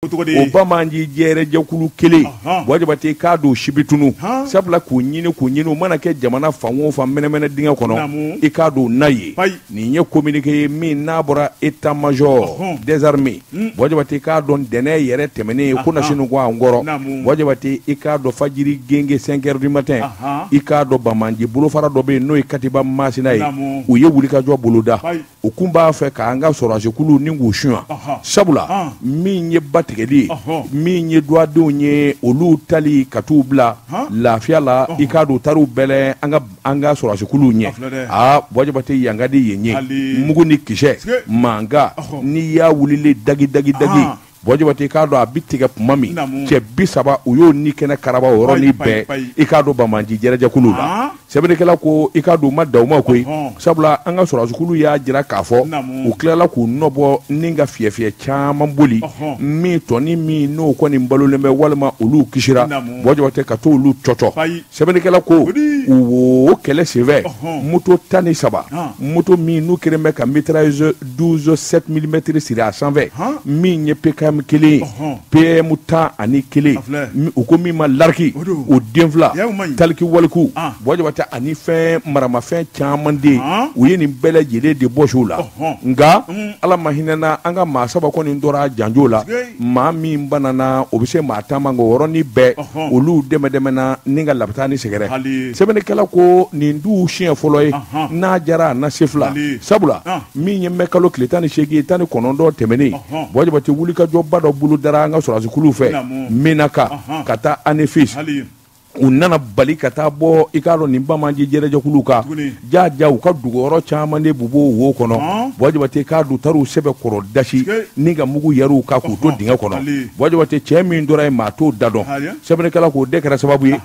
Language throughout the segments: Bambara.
o banbaanci jɛrɛjɛkulu kelen Buwa Jabate i k'a dɔn si bi tunun sabula k'u ɲini k'u ɲini u mana kɛ jamana fan o fan mɛnɛmɛnɛ dingɛ kɔnɔ i k'a dɔn na ye nin ye kominike ye min n'a bɔra état-major des armées Buwa Jabate i k'a dɔn ntɛnɛn yɛrɛ tɛmɛnen ye ko nas ko an kɔrɔ Buwa Jabate i k'a dɔn fajiri gengen cinq heures du matin i k'a dɔn banbaanci bolofara dɔ bɛ yen n'o ye katiba masina ye u ye wulikajɔ boloda u kun b'a fɛ k'an ka sɔrɔsikulu nin k'u suɲɛ sabula min ye batigɛli min ye duwadenw ye olu taali ka t'u bila lafiya la i k'a dɔn u taar'u bɛlɛn an ka sɔrɔsikuluw ɲɛ aa Buwa Jabate yan ka di yen ye mugu ni kisɛ mankan n'i y'a wulilen dagi dagi dagi Buwa Jabate i k'a dɔn a bi tigɛ tuma min cɛ bi saba u y'o ni kɛnɛ karaba o yɔrɔni bɛɛ i k'a dɔn banbaanci jɛrɛjɛkulu la ah. sɛbɛnnikɛla ko i k'a dɔn u ma dan o ma koyi sabula an ka sɔrɔdasikulu y'a jira k'a fɔ u tilala k'u nɔbɔ ni ka fiyɛfiyɛ caman boli min tɔni min n'o kɔni balolen bɛ walima olu kisira Buwa Jabate ka to olu cɔcɔ sɛbɛnnikɛla ko o kɛlɛ senfɛ moto tan ni saba moto min n'u kɛlen bɛ ka mitrailleuse 12 7 mm siri a sanfɛ min ye PKM kelen ye PM tan ani kelen u ko min ma lariki o den fila talkie-walkie Buwa Jabate ani fɛn maramafɛn caman de u ye nin bɛɛ lajɛlen de bɔsi u la nka ala ma hinɛna an ka maa saba kɔni tora janjon la maa min bananna o bɛ se maa tan ma nka o yɔrɔnin bɛɛ olu dɛmɛdɛmɛna ni ka labitani sɛgɛrɛ sɛbɛnnikɛla ko nin dun siɲɛ fɔlɔ ye n'a jara a na se fila sabula min ye mɛkalo tile tan ni seegin tan ni kɔnɔntɔn tɛmɛnen Buwa Jabate wulikajɔba dɔ bolodara an ka sɔrɔsikulu fɛ Menaka ka taa Anefis u nana bali ka taa bɔ i k'a dɔn nin banbaanci jɛrɛjɛkulu kan ja ja u ka dogoyɔrɔ caman de b'u bolo wo kɔnɔ Buwa Jabate k'a dɔn u taar'u sɛbɛkɔrɔ dasi ni ka mugu yɛr'u kan k'u to dingɛ kɔnɔ Buwa Jabate cɛ min tora yen maa t'o da dɔn sɛbɛnnikɛla k'o de kɛra sababu ye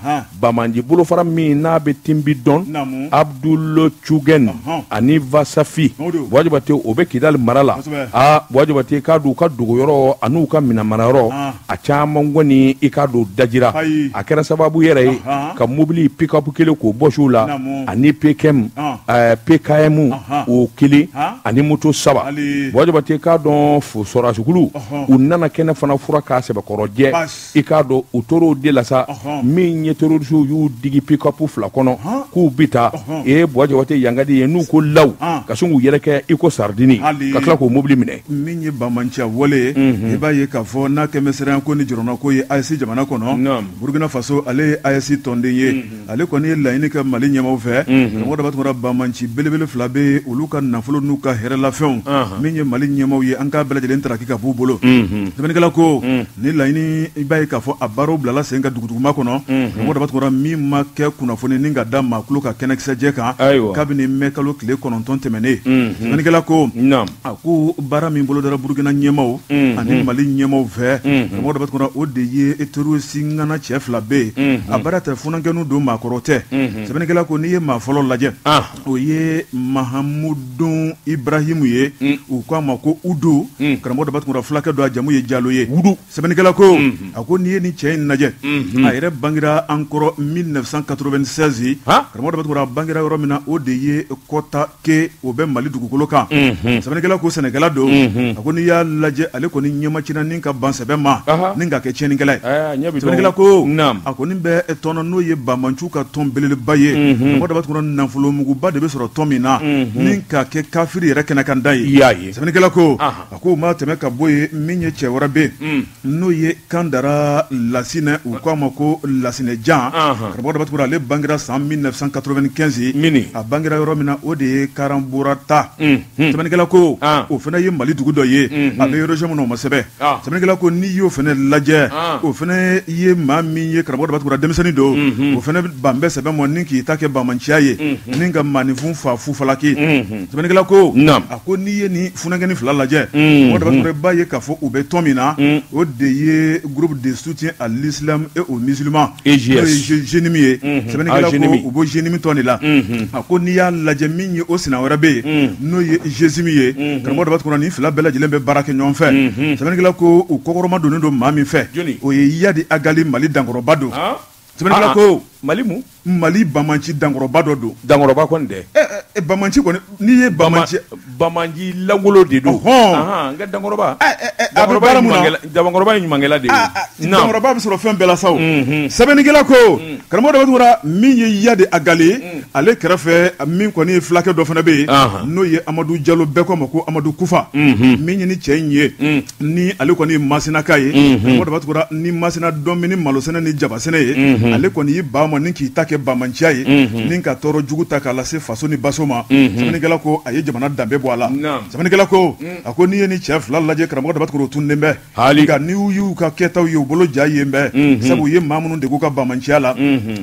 banbaanci bolofara min n'a bɛ tinbi dɔn abdul cugɛn ani vasafi Buwa Jabate o bɛ kidali mara la aa Buwa Jabate k'a dɔn u ka dogoyɔrɔ an'u ka minɛnmarayɔrɔ a caman kɔni i k'a dɔn dajira a kɛra sababu yɛrɛ ye ka mobili pickup kelen k'o bɔsi u la ani pkm eh, pkm o kelen ani moto saba Buwa Jabate k'a dɔn sɔrɔsikulu u nana kɛnɛ fana furan k'a sɛbɛkɔrɔ jɛ i k'a dɔn u tor'o de la sa min ye terorisiw y'u digi pickup fila kɔnɔ k'u bi taa e Buwa Jabate yan ka di yen u ko law ka sin k'u yɛrɛ kɛ i ko saridini ka tila k'o mobili minɛ min ye bamanciya wale ye mhm. i b'a ye k'a fɔ n'a kɛmɛ siranya ko ni jɔrɔna ko ye AES jamana kɔnɔ burukina faso ale ye AES tɔnden ye mhm. ale kɔni ye laɲini kɛ mali ɲɛmaw fɛ mhm. karamɔgɔ daba tunkara bamanci belebele fila bɛ olu ka nafolo n'u ka hɛrɛlafɛnw min ye mali ɲɛmaw ye an k'a bɛɛ lajɛlen taraki ka b'u bolo sɛbɛnnikɛla ko ni laɲini i b'a ye k'a fɔ a baaraw bilala sen ka duguduguma kɔnɔ karamɔgɔ daba tunkara min ma kɛ kunnafoni ni ka da maakulu ka kɛnɛkisɛjɛ kan kabini mɛkalo tile kɔnɔntɔn tɛmɛnnen sɛbɛnnikɛla ko a ko baara min bolo dara burukina ɲɛmaw mm-hmm. ani mali ɲɛmaw fɛ mm-hmm. karamɔgɔ daba tunkara o de ye terorisi ŋana cɛ fila bɛ yen mm-hmm. a baara tɛ funankɛnu don maakɔrɔ tɛ sɛbɛnnikɛla ko n'i ye maa fɔlɔ lajɛ ah. o ye mahamudun ibrahimu ye mm. u ko a ma ko udo karamɔgɔ daba tunkara fulakɛ don a jamu ye jalo ye wudu Sɛbɛnnikɛla ko a ko n'i ye ni cɛ in lajɛ a yɛrɛ bangera an kɔrɔ mille neuf cent quatre-vingt-seize karamɔgɔ daba tunkara bangera yɔrɔ min na o de ye kɔta ke o bɛ mali dugukolo kan sɛbɛnnikɛla ko sɛnɛkɛla don a ko n'i y'a lajɛ ale kɔni ɲɛmacin ni ka ban sɛbɛ ma ni ka kɛ tiɲɛnikɛla ye sɛbɛnnikɛla ko a kɔni bɛ tɔn na n'o ye bamanciw ka tɔn belebeleba ye karamɔgɔ daba tunkara nafolomuguba de bɛ sɔrɔ tɔn min na ni ka kɛ kafiri yɛrɛ kɛnɛ kanda ye sɛbɛnnikɛla ko a ko maa tɛmɛ ka bɔ yen min ye cɛ wɛrɛ bɛ n'o ye kandara lasinɛ u k'a ma ko lasinɛ jan karamɔgɔ daba tunkara ale bangera san mille neuf cent quatre-vingt-quinze a bangera yɔrɔ min na o de ye karanborata sɛbɛnnikɛla ko o fana ye mali dugu dɔ ye a bɛ région min na o ma sɛbɛn sɛbɛnnikɛla ko n'i y'o fana lajɛ o fana ye maa min ye karamɔgɔ daba tunkara denmisɛnnin don o fana ban bɛ sɛbɛ ma ni k'i ta kɛ bamanciya ye ni ka maaninfin faa fufalaki Sɛbɛkɛla ko a ko n'i ye nin fkɛnin fila lajɛ o da ba ye k'a fɔ u bɛ tɔn min na o de ye gbu de su cɛ alisi e o mizlima ez ye sɛbɛn u bɔ zminimi de la a ko n'i y'a lajɛ min ye o sina wɛrɛ bɛ yen n'o ye zesimi ye karamɔgɔ ni fila bɛɛ lajɛlen bɛ baara kɛ ɲɔgɔn fɛ sɛbɛn ko u kɔkɔrɔma don don maa min fɛ o ye yadi a mali dankɔrɔba don Ah, ah. ko mali mu mali bamanci dankɔrɔba dɔ don dankɔrɔba kɔni dɛ eh, eh, eh, bamanci kɔni n'i ye bamanci bamanci langolo de don hɔn n ka dankɔrɔba a bɛ baara mun na dankɔrɔba ye ɲumankɛla de ye ah, dankɔrɔba bɛ sɔrɔ fɛn bɛɛ la sa o mhm. sɛbɛnnikɛla ko mm. karamɔgɔ daba tunkara min ye yadi agali mm. ale kɛrɛfɛ min kɔni ye fulakɛ dɔ fana bɛ yen n'o ye amadu jalo bɛɛ k'a ma ko amadu kufa mhm. min ye nin cɛ in ye mm. ni ale kɔni ye masinaka ye karamɔgɔ daba tunkara ni masina dɔn min ni malosɛnɛ ni jabasɛnɛ ye ale kɔni y'i ban a ma ni k'i ta kɛ bamanciya ye ni ka tɔɔrɔ jugu ta k'a lase faso ni baso ma sɛbɛnnikɛla ko a ye jamana danbe bɔ a la sɛbɛnnikɛla ko a ko n'i ye ni cɛ fila lajɛ karamɔgɔ daba tunkara tunden bɛɛ hali ka ni y'u y'u ka kɛtaw ye u bolo ja yenbɛn sabu u ye maa minnu de k'u ka bamanciya la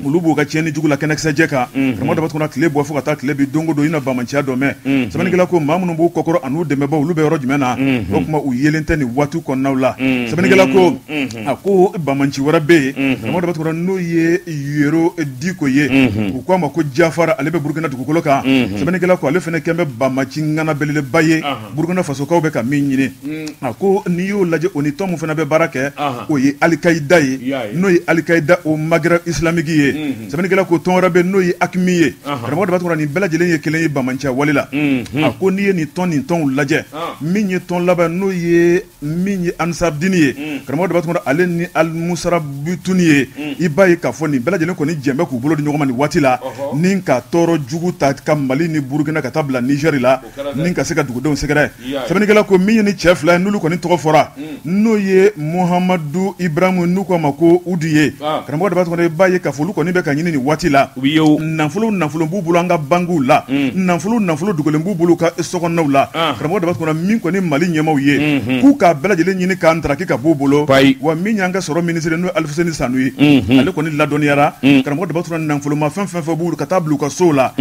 olu b'u ka tiɲɛni jugu la kɛnɛkisɛjɛ kan karamɔgɔ daba tunkara tile bɔ fo ka taa tile bi don o don i na bamanciya dɔ mɛn sɛbɛnnikɛla ko maa minnu b'u kɔkɔrɔ an'u dɛmɛbaw olu bɛ yɔrɔ jumɛn na o tuma u yelen tɛ nin waati kɔnɔnaw la sɛbɛnnikɛla ko a ko bamanci wɛrɛ bɛ yen karamɔgɔ daba tunkara n'o ye yero diko ye u k'a ma ko jafara ale bɛ burukina dugukolo kan sɛbɛnnikɛla ko ale fana kɛn bɛ bamanci ŋana belebeleba ye burukina fasokaw bɛ ka min ɲini mm. a ko n'i y'o lajɛ o ni tɔn min fana bɛ baara kɛ o ye alikayida ye n'o ye alikayida o magɛrɛbu isilamiki ye mm-hmm. sɛbɛnnikɛla ko tɔn wɛrɛ bɛ n'o ye akimi ye karamɔgɔ daba tunkara nin bɛɛ lajɛlen ye kelen ye bamanciya wale la mm-hmm. a ko n'i ye nin tɔn nin tɔnw lajɛ min ye tɔn laban n'o ye min ye ansaridini ye mm. karamɔgɔ daba tunkara ale ni alimusarabituni ye mm. i b'a ye k'a fɔ nin bɛɛ lajɛlen kɔni jɛn bɛ k'u bolo di ɲɔgɔn ma nin waati la ni ka tɔɔrɔ jugu ta ka mali ni burukina ka taa bila nizɛri la ni ka se ka dugudenw sɛgɛrɛ sɛbɛnnikɛla ko min ye ni cɛ fila ye n'olu kɔni tɔgɔ fɔra n'o ye muhamadu ibrahimu n'u k'a ma ko udu ye karamɔgɔ daba tunkara i b'a ye k'a fɔ olu kɔni bɛ ka ɲini nin waati la u ye nafolo nafolo b'u bolo an ka bankiw la nafolo nafolo dogolen b'u bolo ka sow la karamɔgɔ daba tunkara min kɔni mali ɲɛmaaw ye k'u k'a bɛɛ lajɛlen ɲini k'a daraki ka b'u bolo wa min y'an ka sɔrɔ minisiri n'o ye alifuseni sanu ye ale kɔni ladɔnniyara karamɔgɔ daba tunkara nafolomafɛn fɛn fɛn b'u ka taa bila u ka sow la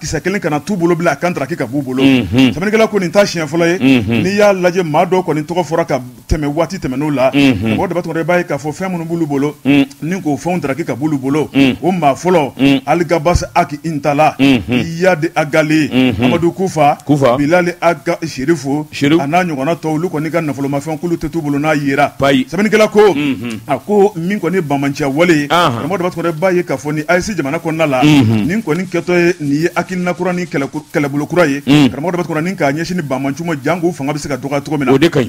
kisɛ kelen kana t'u bolo bila a ka daraki ka b'u bolo mhm. sɛbɛnnikɛla ko nin t'a siɲɛ fɔlɔ ye mhm. n'i y'a lajɛ maa dɔw kɔni tɔgɔ fɔra ka tɛmɛ waati tɛmɛnenw la mhm. karamɔgɔ daba tunkara i b'a ye k'a fɔ fɛn minnu b'olu bolo ni k'o fɛnw daraki ka b'olu bolo o maa fɔlɔ aligabas aki intala iyadi agali amadu kufa bilali aga serifu a n'a ɲɔgɔnna tɔw olu kɔni ka nafolomafɛn k'olu tɛ t'u bolo n'a yera sɛbɛnnikɛla ko a ko min kɔni ye bamanciya wale ye karamɔgɔ Daba Tunkara i b'a ye k'a fɔ ni AES jamana kɔnɔna la nin kɔni kɛtɔ ye nin ye hakilina kura ni kɛlɛbolo kura ye karamɔgɔ Daba Tunkara ni k'a ɲɛsin ni bamanciw ma jank'u fanga bɛ se ka dɔgɔya cogo min na o de ka ɲi.